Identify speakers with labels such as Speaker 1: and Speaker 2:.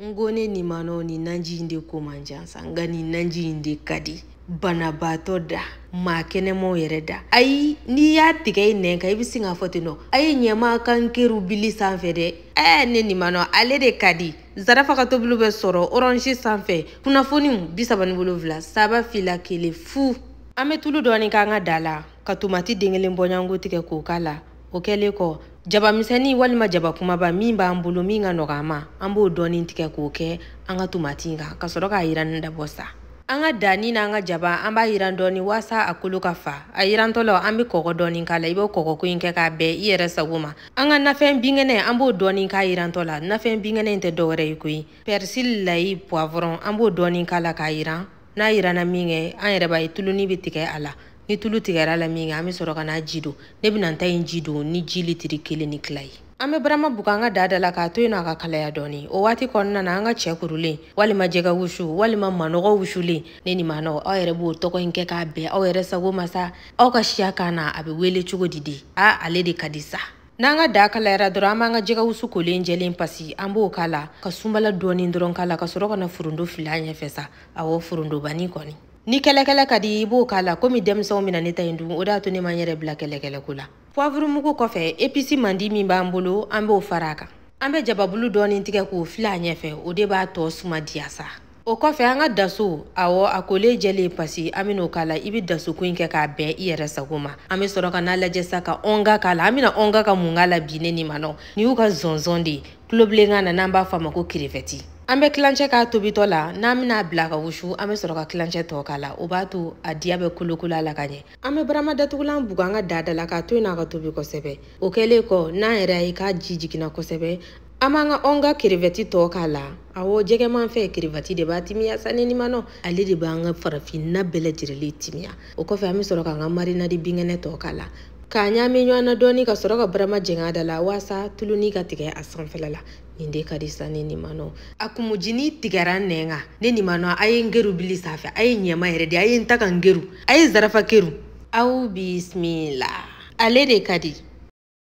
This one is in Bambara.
Speaker 1: n ko ne nin ma nɔ nin nanji in de ko man jan sa nka nin nanji in de ka di banabaatɔ da maa kɛnɛmaw yɛrɛ da ayi n'i y'a tigɛ i nɛn kan i bɛ sin k'a fɔ ten nɔ a ye ɲɛma ka n keru bili sanfɛ dɛ ɛɛ ne nin ma nɔ ale de ka di zarafa ka tobiliw bɛ sɔrɔ orange sanfɛ kunnafoniw bi saba ni wolonwula saba fila kelen fu an bɛ tulu dɔɔni k'an ka daa la ka tomati den kelen bɔɲɔgɔnko tigɛ k'o k'a la o kɛlen kɔ jaba misɛnnin walima jaba kumaba min b'an bolo min ka nɔgɔ an ma an b'o dɔɔnin tigɛ k'o kɛ an ka tomati kan ka sɔrɔ k'a yiranni dabɔ sa an ka daani na an ka jaba an b'a yiran dɔɔni waasa a kolo ka fa a yirantɔ la an bɛ kɔgɔ dɔɔni k'a la i bɛ kɔgɔko in kɛ k'a bɛn i yɛrɛ sago ma an ka nafɛn binkɛnɛ an b'o dɔɔni k'a yirantɔ la nafɛn binkɛnɛ in tɛ dɔwɛrɛ ye koyi pɛrisili layi puwavɔrɔn an b'o dɔɔni k'a la k'a yiran n'a yiranna min kɛ an yɛrɛ b'a ye tuluni bɛ tigɛ a la ni tulu tigɛr'a la min kɛ an bɛ sɔrɔ ka n'a ji don ne bɛna n ta in ji don ni ji litiri kelen ni tila ye an bɛ barama bugu an ka daa da la k'a to yen nɔ a ka kalaya dɔɔni o waati kɔnɔna na an ka cɛ kurulen walima jɛgɛ wusu walima manɔgɔ wusulen ne ni manɔ aw yɛrɛ b'o tɔgɔ in kɛ k'a bɛn aw yɛrɛ sago ma sa aw ka siya kan na a bɛ wele cogo di de a ale de ka di sa n'an ka daa kalayara dɔrɔn an b'an ka jɛgɛ wusu kolen jɛlen pasi an b'o k'a la ka sunbala dɔɔni dɔrɔn k'a la ka sɔrɔ ka na forondo fili a ɲɛfɛ sa awɔ forondobani kɔni ni kɛlɛkɛlɛ ka di i b'o k'a la komi denmisɛnw bɛna ne ta in dun o de y'a to ne ma n yɛrɛ bila kɛlɛkɛlɛko la puwavurumugu kɔfɛ episi mandi min b'an bolo an b'o fara a kan an bɛ jababulu dɔɔni tigɛ k'o fili a ɲɛfɛ o de b'a tɔ suma diya sa o kɔfɛ an ka daso awɔ a kolen jɛlen pasi an bɛn'o k'a la i bɛ dasoko in kɛ k'a bɛn i yɛrɛ sago ma an bɛ sɔrɔ ka n'a lajɛ sa ka ɔnga k'a la an bɛna ɔnga ka mun k'a la bi ne ni manɔ ni y'u ka zɔnzɔn de ye tulobilenkan na n'an b'a fɔ a ma ko kerevɛti an bɛ tilancɛ k'a tobitɔ la n'an bɛn'a bila ka wusu an bɛ sɔrɔ ka tilancɛ tɔ k'a la o b'a to a diya bɛ kolokolo a la ka ɲɛ an bɛ barama datugulan bugu an ka daa da la k'a to yen n'a ka tobi kosɛbɛ o kɛlen kɔ n'an yɛrɛ y'a ye k'a ji jiginna kosɛbɛ an b'an ka ɔnga kerevɛti tɔ k'a la awɔ jɛgɛmafɛn kerevɛti de b'a timiya sa ne nimanɔ ale de b'an ka farafinna bɛɛ lajɛrɛlen timiya o kɔfɛ an bɛ sɔrɔ k'an ka marinadi binkɛnɛ tɔ k'a la k'a ɲaami ɲɔgɔn na dɔɔni ka sɔrɔ ka barama jɛngɛ a da la walasa tuluni ka tigɛ a sanfɛla la nin de ka di sa ne nimanɔ a kumujini tigɛra nɛn kan ne nimanɔ a ye n keru bili sanfɛ a ye ɲɛma yɛrɛ di a ye n ta ka n keru a ye zarafa keru aw bisimila ale de ka di